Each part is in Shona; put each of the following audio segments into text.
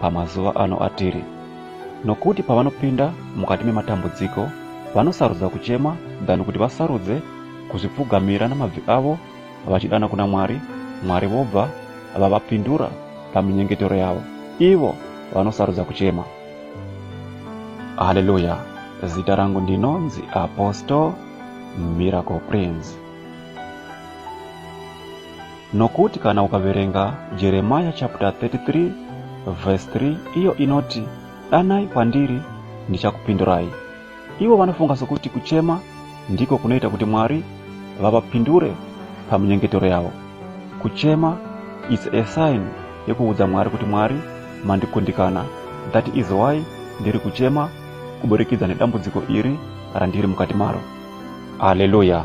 pamazuva ano atiri nokuti pavanopinda mukati mematambudziko vanosarudza kuchema than kuti vasarudze kuzvipfugamira namabvi avo vachidana kuna mwari mwari vobva vavapindura paminyengetero yavo ivo vanosarudza kuchema haleluya zita rangu ndinonzi apostle miracle prince Nokuti kana ukaverenga Jeremiah chapter 33 verse 3 iyo inoti danai kwandiri ndichakupindurai. Ivo vanofunga sokuti kuchema ndiko kunoita kuti Mwari vavapindure paminyengetero yavo. Kuchema is a sign yekuudza Mwari kuti Mwari mandikundikana. That is why ndiri kuchema kuburikidza nedambudziko iri randiri mukati maro. Haleluya!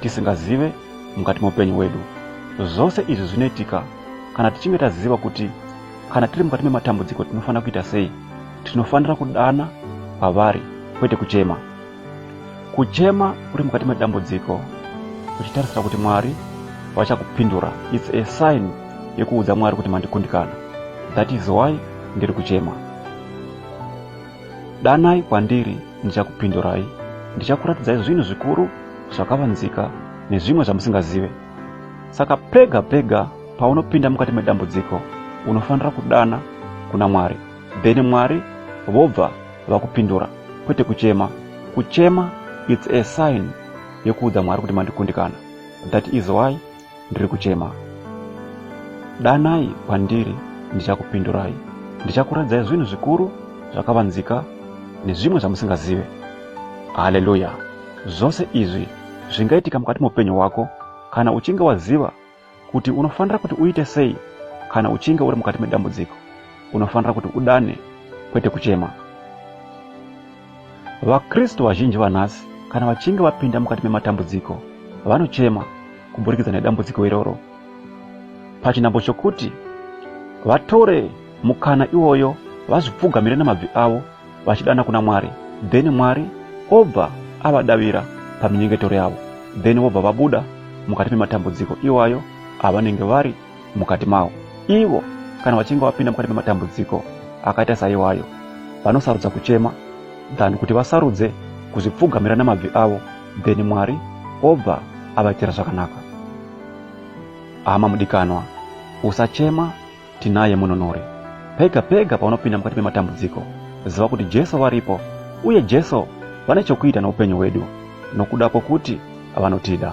tisingazive mukati meupenyu hwedu. Zvose izvi zvinoitika kana tichinge taziva kuti kana tiri mukati mematambudziko tinofanira kuita sei. Tinofanira kudana kwavari kwete kuchema. Kuchema uri mukati medambudziko uchitarisira kuti Mwari vachakupindura its a sign yekuudza Mwari kuti mandikundikana that is why ndiri kuchema. Danai kwandiri, ndichakupindurai. Ndichakuratidzai zvinhu zvikuru zvakavanzika nezvimwe zvamusingazive. Saka pega pega paunopinda mukati medambudziko, unofanira kudana kuna Mwari. Then Mwari vobva vakupindura, kwete kuchema. Kuchema it's a sign yekuudza Mwari kuti mandikundikana. That is why ndiri kuchema. Danai kwandiri ndichakupindurai. Ndichakuradzai zvinhu zvikuru zvakavanzika nezvimwe zvamusingazive. Haleluya! Zvose izvi zvingaitika mukati meupenyu hwako kana uchinge waziva kuti unofanira kuti uite sei kana uchinge uri mukati medambudziko. Unofanira kuti udane, kwete kuchema. VaKristu vazhinji vanhasi kana vachinge vapinda mukati mematambudziko vanochema kuburikidza nedambudziko iroro pachinhambo chokuti vatore mukana iwoyo vazvipfugamire namabvi avo vachidana kuna mwari then mwari obva avadavira paminyengetero yavo then vobva vabuda mukati mematambudziko iwayo avanenge vari mukati mawo. Ivo kana vachinge vapinda mukati mematambudziko akaita saiwayo, vanosarudza kuchema than kuti vasarudze kuzvipfugamira namabvi avo then Mwari obva avaitira zvakanaka. Hama mudikanwa, usachema tinaye mununuri. Pega pega paunopinda mukati mematambudziko, ziva kuti Jesu varipo uye Jesu vane chokuita noupenyu hwedu nokuda kwokuti vanotida.